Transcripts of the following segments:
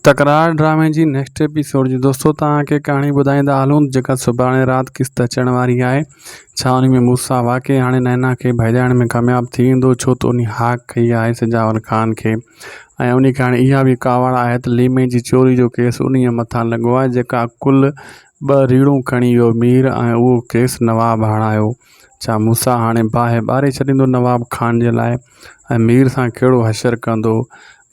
تڪرار ڊرامي جي نيڪسٽ ايپيسوڊ جي دوستو توهان کي ڪهاڻي ٻڌائيندا هلون جيڪا سڀاڻي رات قسط اچڻ واري آهي ڇا ان ۾ موسيٰ واقعي هاڻي نينا کي ڀيڄائڻ ۾ ڪامياب ٿي ويندو ڇو ته انهي هاڪ ڪئي آهي سجاول خان کي ۽ انهي ڪهاڻي اها به ڪاوڙ آهي ته ليمي جي چوري جو ڪيس انهي مٿان لڳو آهي جيڪا ڪل ٻه ريڙهون کڻي ويو مير ۽ اهو ڪيس نواب هڻايو ڇا موسيٰ هاڻي باهه ٻاري ڇڏيندو نواب خان جي لاء ۽ مير سان ڪهڙو حشر ڪندو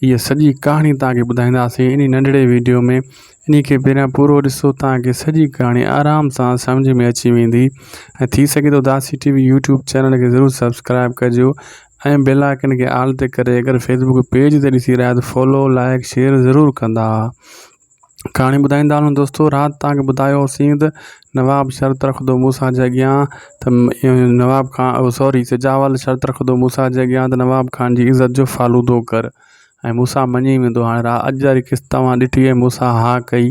هيء سڄي ڪهاڻي توهان کي ٻڌائينداسين انهي ننڍڙي ويڊيو ۾ انهي کي پهريان پورو ڏسو توهان کي سڄي ڪهاڻي آرام سان سمجهه ۾ اچي ويندي ۽ ٿي سگهي ٿو Dasi T V YouTube channel کي ضرور سبسڪرائيب ڪجو ۽ بيل آئڪن کي آل تي ڪري اگر فيسبوڪ پيج تي ڏسي رهيا آهيو ته فالو لائڪ شيئر ضرور ڪندا ڪهاڻي ٻڌائيندا هلون دوستو رات تان کي ٻڌايو هوسين ته نواب شرط رکندو مون سان جي اڳيان ته نواب خان او سوري سجاوال شرط رکندو مون سان جي اڳيان ته نواب خان جي عزت جو فالودو ڪر ۽ مون سان مڃي ويندو هاڻي را اڄ جا قسط توهان ڏٺي ۽ مون سان ها ڪئي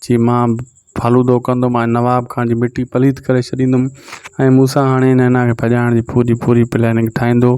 چي مان فالودو ڪندم ۽ نواب خان جي مٽي پليت ڪري ڇڏيندم ۽ مون سان هاڻي نينا کي ڀڄائڻ جي پوري پوري پلاننگ ٺاهيندو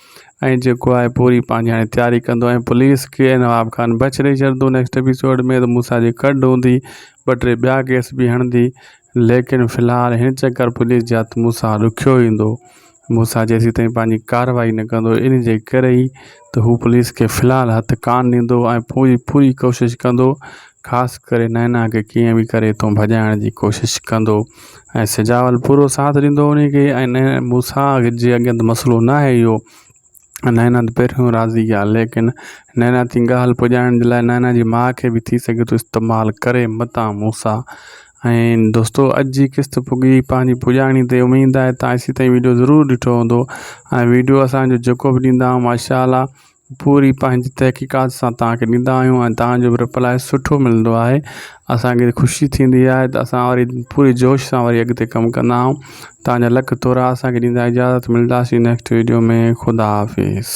۽ جيڪو آهي پوري پنهنجي هاڻي تياري ڪندو ۽ پوليس کي نواب خان بڇ ڏئي ڇڏندو نيڪسٽ ايپيسوڊ ۾ ته موسيٰ جي ڪڍ هوندي ٻه ٽي ٻيا ڪيس به هڻندي ليڪن في الحال هن چڪر پوليس جي هٿ موسيٰ ڏکيو ايندو موسيٰ جيسين تائين پنهنجي ڪارروائي نه ڪندو ان جي ڪري ئي ته هو پوليس کي في الحال هٿ ڪانه ڏيندو ۽ پوري پوري ڪوشش ڪندو خاص ڪري نينا کي ڪيئن به ڪري تون ڀڄائڻ جي ڪوشش ڪندو ۽ سجاول پورو ساٿ ڏيندو انهي کي ۽ مون سان جي اڳيان ته مسئلو نه آهي اهو نينا ته پهريون راضي آهي ليڪن نينا تي ڳالهه پڄائڻ جي لاء نينا جي ماء کي به ٿي سگهي ٿو استعمال ڪري متان مون سان ۽ دوستو اڄ جي قسط پڳي پنهنجي پڄاڻي تي اميد آهي تان ايسي تائين ويڊيو ضرور ڏٺو هوندو ۽ ويڊيو اسانجو جيڪو به ڏيندا آهيون ماشاء الله پوري پنهنجي تحقيقات سان توهان کي ڏيندا آهيون ۽ توهان جو رپلاء سٺو ملندو آهي اسانکي خوشي ٿيندي آهي ته اسان وري پوري جوش سان وري اڳتي ڪم ڪندا آهيون توهان جا لک ٿورا اسانکي ڏيندا اجازت ملداسين نيڪسٽ ويڊيو ۾ خدا حافظ